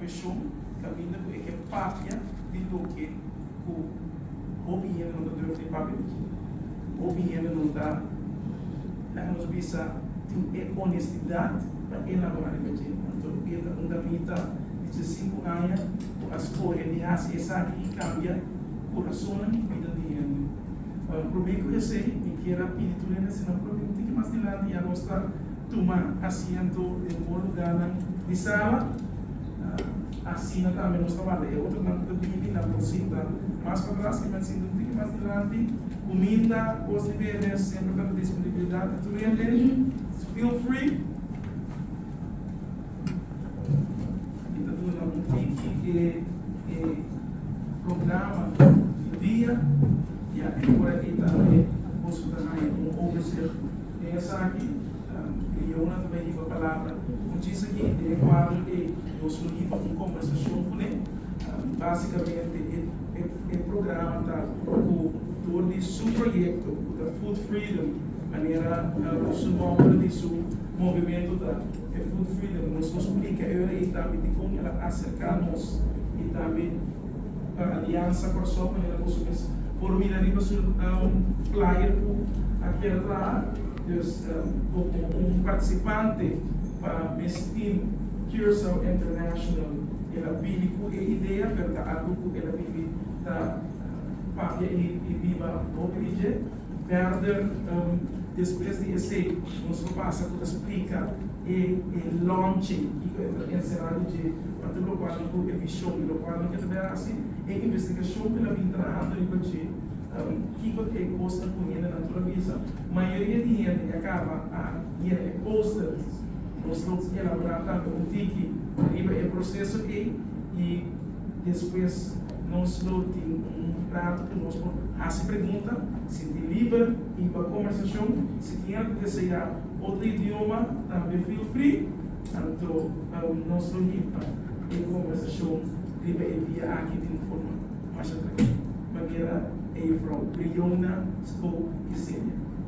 Mision caminda cu e ke papia di loke cu hopi hende no ta durf di papia di kiko hopi hende no ta, laga nos bisa, tin e honestidad pa elabora riba dje. Anto e ta un damita di diesinco aña cu a scoge di haci esaki y cambia curasonan y bidan di hende. Bueno, prome cu esey mi kier a pidi tur hende asina prontito tin ki mas dilanti y anos ta Tuma asiento den bo lugánan di sala. Asina tambe nos ta manda e otronan ku ta bini nan por sinta mas patras i nan sinta un tiki mas dilanti. Kuminda, kos di bebe semper ta na disponibilidat pa tur hende. Feel free. Mi ta duna un tiki di e programa di dia. Ya, e ora akí tambe boso ta haña un overzicht. Den esaki, e leona ta bay hiba palabra. Un chis aki e tene cuadro e nos lo hiba un conversacion cu ne. Basicamente e programa ta cu tur di su proyecto cu ta Food Freedom, manera cu su nomber di su movimento ta e Food Freedom, nos lo splica e ora ey tambe dicon el a acerca nos y tambe. pa Aliansa Kòrsou manera boso mes por mira riba su un flyer ku a kier traha dus komo un partisipante pa mes team Curaçao International. El a bini ku e idea pero ta algu ku el a bibi ta papia i biba hopi di dje. Verder, despues di esei, nos lo pasa cu ta splica e launching y cu e ta encerado dje pasobra locual nan cu e vision y locual nan ke ta bira haci e investigacion cu nan bin trahando riba dje, kico ta e cosnan cu hende nan tur a bisa. Mayoria di hende ya caba a yena e posters. Nos lo elabora tambe un tiki riba e proceso ey y Despues nos lo tin un rato ku nos por hasi pregunta, sinti liber, hiba kòmbersashon. Si tin al ku deseá otro idioma, tambe feel free. Anto nos lo hiba e kòmbersashon riba e bia aki di un forma masha trankilu, manera e Juffrou Briona Spoke di Celia.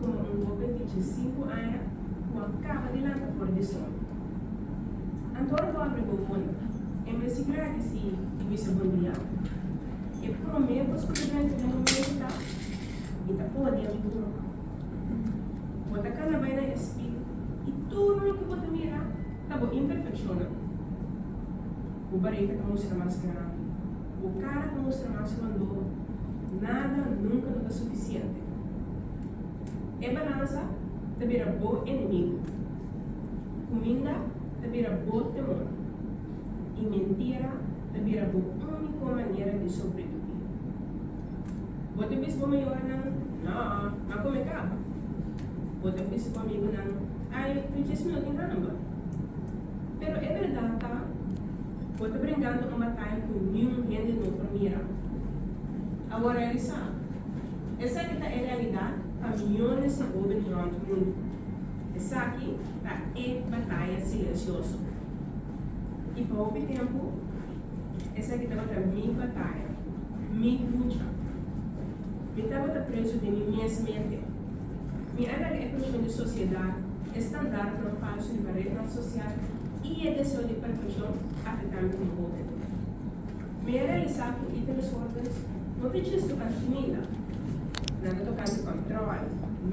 como un hoben di ciensinco aña cu a caba di lanta for di sol. Anto a dormi bo hoy? E mester gradi si i bisa bon dia. E prome posiblemente di momento ta, Mi ta pone mi burka. Bo ta cana bai na espeho i tur loke bo ta mira ta bo imperfeccionnan. Bo bareta ta mustra mas grandi. Bo kara ta mustra mas rondó. Nada nunka no ta sufisiente. E balansa ta bira bo enemigu. Kuminda ta bira bo temor. I mentira ta bira bo úniko manera di sobreviví. Bo ta bisa bo mayornan, Nò, m'a kome kaba. Bo ta bisa bo amigunan, Ai, mi djesmi no tin hamba. Pero e berdad ta, bo ta brengando un batai cu niun hende no por mira. A bo realisa? Esaki ta e realidad pa miljones di hoben rond mundu. Esaki ta e bataya silencioso. I pa hopi tempu, esaki tabata mi bataya, mi lucha. Mi tabata preso den mi mes mente. Mi a laga e persoon di sociedad, e standaardnan falso riba rednan social y e deseo di perfeccion afecta mi como homber. Mi a realisa cu y ta desordens no ta djis toca mi fmila, nan ta toca mi control, mi.